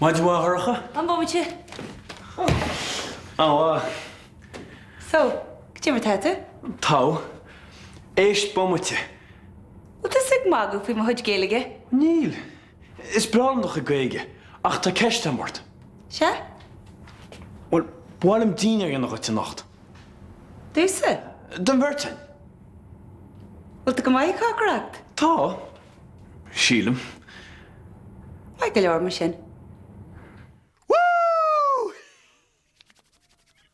Maidin mhaith Shorcha. Fan bomaite! An-mhaith. So, goidé mar atá tú? Tá. Éist bomaite. Bhfuil tusa ag magadh faoi mo chuid Gaeilge? Níl. Is breá liom do chuid Gaeilge, ach tá ceist agam ort. Sea? Bhuel, ba mhaith liom dínnéar a dhéanamh dhuit anocht. Domhsa? Don bheirt againn. Bhfuil tú go maith ag cócaireacht? Tá. Sílim. Maith go leor, mar sin.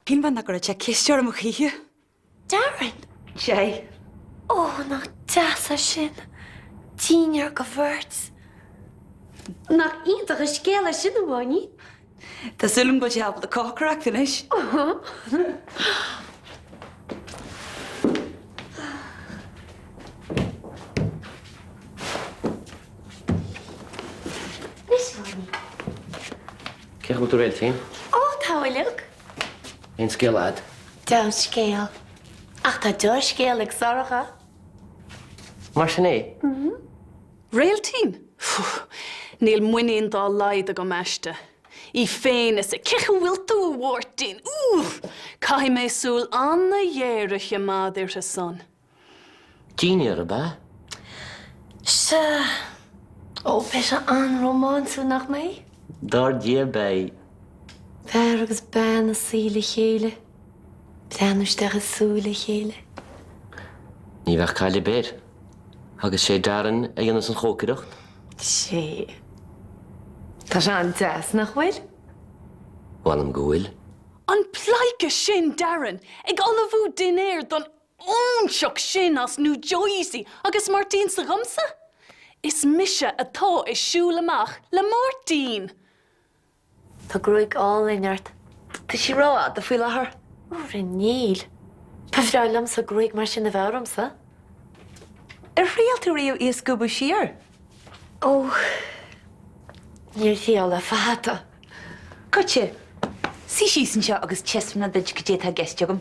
Cinnte nach gcuirfidh sé isteach orm choíche? Darren! Sea. Ó, nach deas é sin! Dinnéar do bheirt. Nach iontach an scéal é sin, a Mháirtín? Tá súil agam go bhfuil sé ábalta cócaireacht anois. Cén chaoi a bhfuil tú, a Réiltín? Ó, tá uilig. Aon scéal a'd? Deamhan scéal. Ach tá do scéal ag Sorcha. Mar sin é? Réiltín? Pfu! Níl muinín dá laghad agam aisti. Í féin is a. Cén chaoi a bhfuil tú, a Mháirtín? Úúúúúúúúúúúúúú! Caithfidh mé súil ana-ghéar a chimeád uirthi san. Dinnéar ab ea? Sea. Ó, beidh sé an-rómánsúil, nach mbeidh? Dar ndóigh, beidh. Fear agus bean ag suí le chéile. Breathnú isteach i súile a chéile. Ní bheadh caill ar bith air. Agus sé Darren a dhéanfas an chócaireacht? Sé. Tá sé an-deas, nach bhfuil? Mh'anam go bhfuil. An pleidhce sin, Darren, ag ullmhú dinnéir don óinseach sin as Nua Jersey agus Máirtín s'agamsa? Is mise atá ag siúl amach le Máirtín! Tá gruaig álainn ort. Tá sí ró-fhada faoi láthair. Ó, muise níl. Ba bhreá liomsa gruaig mar sin a bheith ormsa. Ar thriail tú riamh í a scuabadh siar? Ó, níor thriail le fada. Goitse. Suí síos anseo agus taispeánfaidh mé duit cad é atá i gceist agam.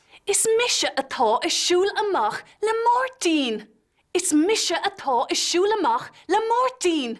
Is mise atá ag siúl amach le Máirtín! Is mise atá ag siúl amach le Máirtín!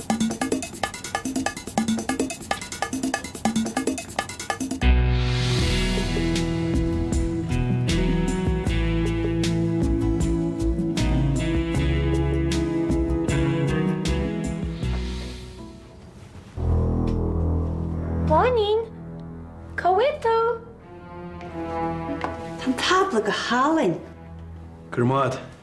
Báinín, cá bhfuil tú? Tá an tábla go hálainn. Grma.